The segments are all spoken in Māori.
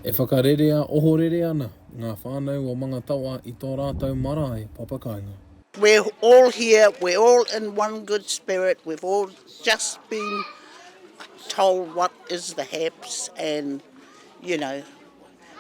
E whakarerea ohorere ana ngā whānau o Mangatawa i tō rātou marae papakāinga. We're all here, we're all in one good spirit, we've all just been told what is the haps and you know,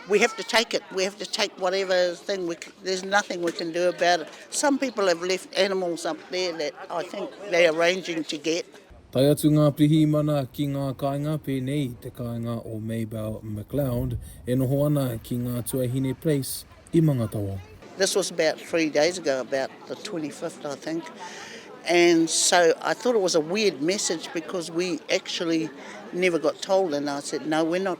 We have to take it. We have to take whatever thing. We can, there's nothing we can do about it. Some people have left animals up there that I think they're arranging to get. Tae atu ngā pirihimana ki ngā kāinga pēnei i te kāinga o Maybell McLeod e noho ana ki ngā Tuahine Place i Mangatawa. This was about three days ago, about the 25th, I think. And so I thought it was a weird message because we actually never got told. And I said, no, we're not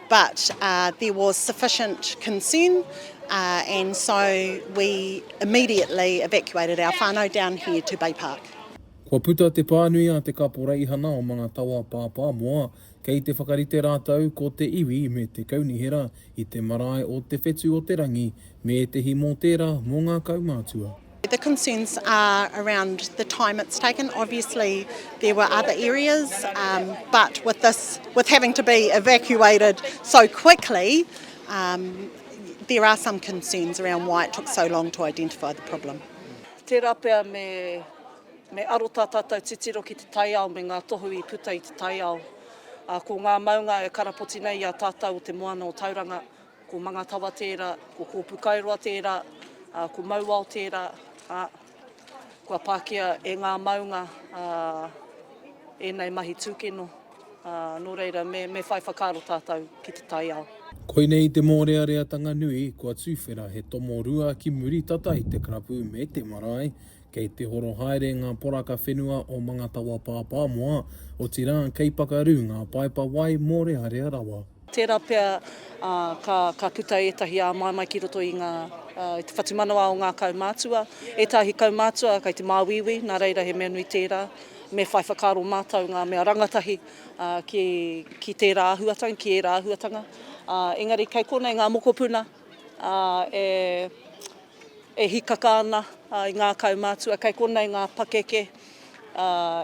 But there was sufficient concern and so we immediately evacuated our whanau down here to Bay Park. Kua puta te pānui a te kaporeihana o Mangatawa Pāpāmoa kei te whakarite rātou ko te iwi me te kaunihera i te marae o Te Whetu o te Rangi me ētehi mōtēra mō ngā kaumātua. The concerns are around the time it's taken. Obviously there were other areas, um, but with this, with having to be evacuated so quickly, um, there are some concerns around why it took so long to identify the problem. Tērā pea me, me aro tā tātou titiro ki te taiao me ngā tohu i puta i te taiao. Uh, ko ngā maunga e karapoti nei i a tātou o te moana o Tauranga, Ko Mangatawa tērā, ko Kōpukaeroa tērā, ā, ko Mauao tērā, ā, kua pākia e ngā maunga, ā, ēnei mahi tūkino, ā, nō reira, me, me whai whakaaro tātou ki te taiao. Koinei te mōreareatanga nui, kua tuwhera he tomo rua ki muri tata i te karapu me te marae, Kei te horo haere ngā poraka whenua o Mangatawa Pāpāmoa, otirā kei pakaru ngā paepa wai mōrearea rawa. Tērā pea ka puta ētahi āmaimai ki roto i te whatumanawa o ngā kaumātua. Ētahi kaumātua kei te māuiui, nā reira he mea nui tērā me whai whakaaro mātou ngā mea rangatahi ki tērā āhuatanga, ki ērā āhuatanga. Engari kei konei ngā mokopuna e. E hikaka ana i ngā kaumātua, kei konei ngā pakeke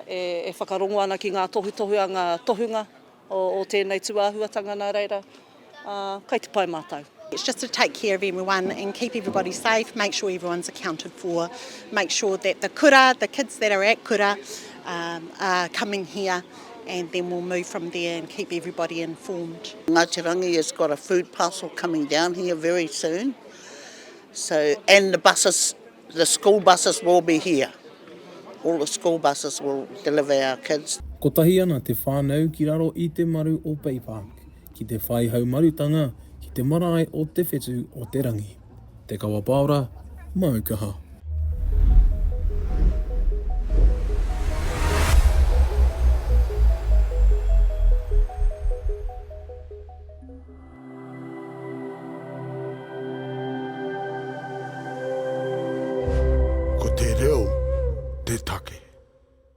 e whakarongo ana ki ngā tohutohu a ngā tohunga o tēnei tūāhuatanga nā reira, kei te pai mātou. It's just to take care of everyone and keep everybody safe, make sure everyone's accounted for, make sure that the kura, the kids that are at kura are coming here and then we'll move from there and keep everybody informed. Ngāti Rangi has got a food parcel coming down here very soon. So, and the buses, the school buses will be here. All the school buses will deliver our kids. Kotahi ana te whānau ki raro i te maru o Bay Park, ki te whai haumarutanga ki te marae o Te Whetu o te Rangi. Te Kawa Paora, māu kaha. Ko te reo te take.